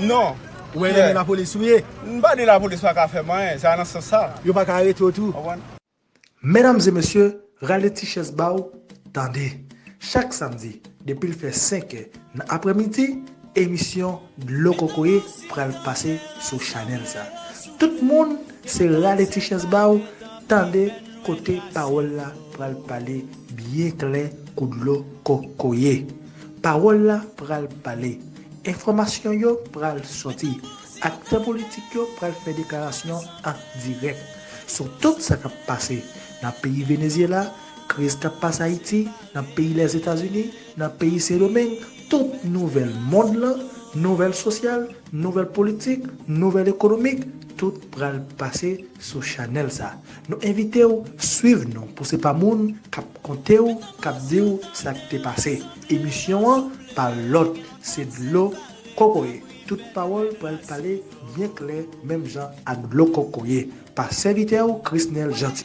Non. Ou wè lè lapolis souye. M pa di lapolis pa ka fè m anyen. Se pa nan sans sa. Yo pa ka arete w tou. Konprann? Medam e mesye, rale ti chèz ba w tande. Chak samdi, depi l fè 5 è nan aprè midi, emisyon Dlo Kokoye pral pase sou chanèl sa. Tout moun, se rale ti chèz ba w tande kote pawòl la pral pale byen klè kou dlo kokoye. Pawòl la pral pale. Enfòmasyon yo pral sòti. Aktè politik yo pral fè deklarasyon an dirèk sou tout sa k ap pase nan peyi Venezyela, kriz k ap pase Ayiti, nan peyi Lèzetazini, nan peyi Sendomeng, tout nouvèl mond lan, nouvèl sosyal, nouvèl politik, nouvèl ekonomik, tout pral pase sou chanèl sa. Nou envite w swiv nou pou se pa moun k ap konte w, k ap di w sa k te pase. Emisyon an pa lòt se dlo kokoye tout pawòl pral pale byen klè menm jan ak dlo kokoye pa sèvitè ou Chrisnel Jeanty.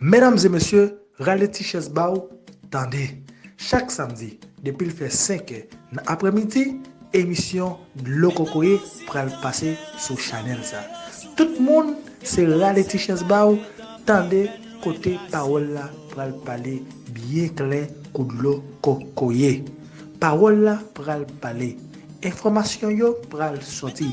Medam e mesye, rale ti chèz ba ou tande. Chak samdi, depi l fè 5 è nan aprèmidi, emisyon Dlo Kokoye pral pase sou chanèl sa. Tout moun, se rale ti chèz ba ou tande kote pawòl la pral pale byen klè kou dlo kokoye. Pawòl la pral pale. Enfòmasyon yo pral sòti.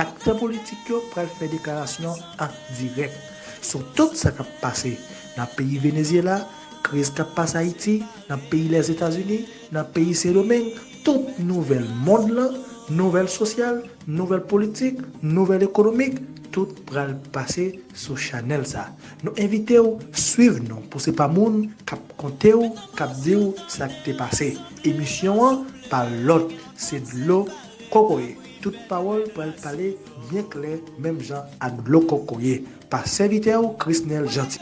Aktè politik yo pral fè deklarasyon an dirèk sou tout sa k ap pase nan peyi Venezyela, kriz k ap pase Ayiti, nan peyi Lèzetazini, nan peyi Sendomeng, tout nouvèl mond lan, nouvèl sosyal, nouvèl politik, nouvèl ekonomik, tout pral pase sou chanèl sa. Nou envite w swiv nou pou se pa moun k ap konte w k ap di w sa k te pase. Emisyon an pa lòt se Dlo Kokoye. Tout pawòl pral pale byen klè menm jan ak dlo kokoye pa sèvitè ou Chrisnel Jeanty.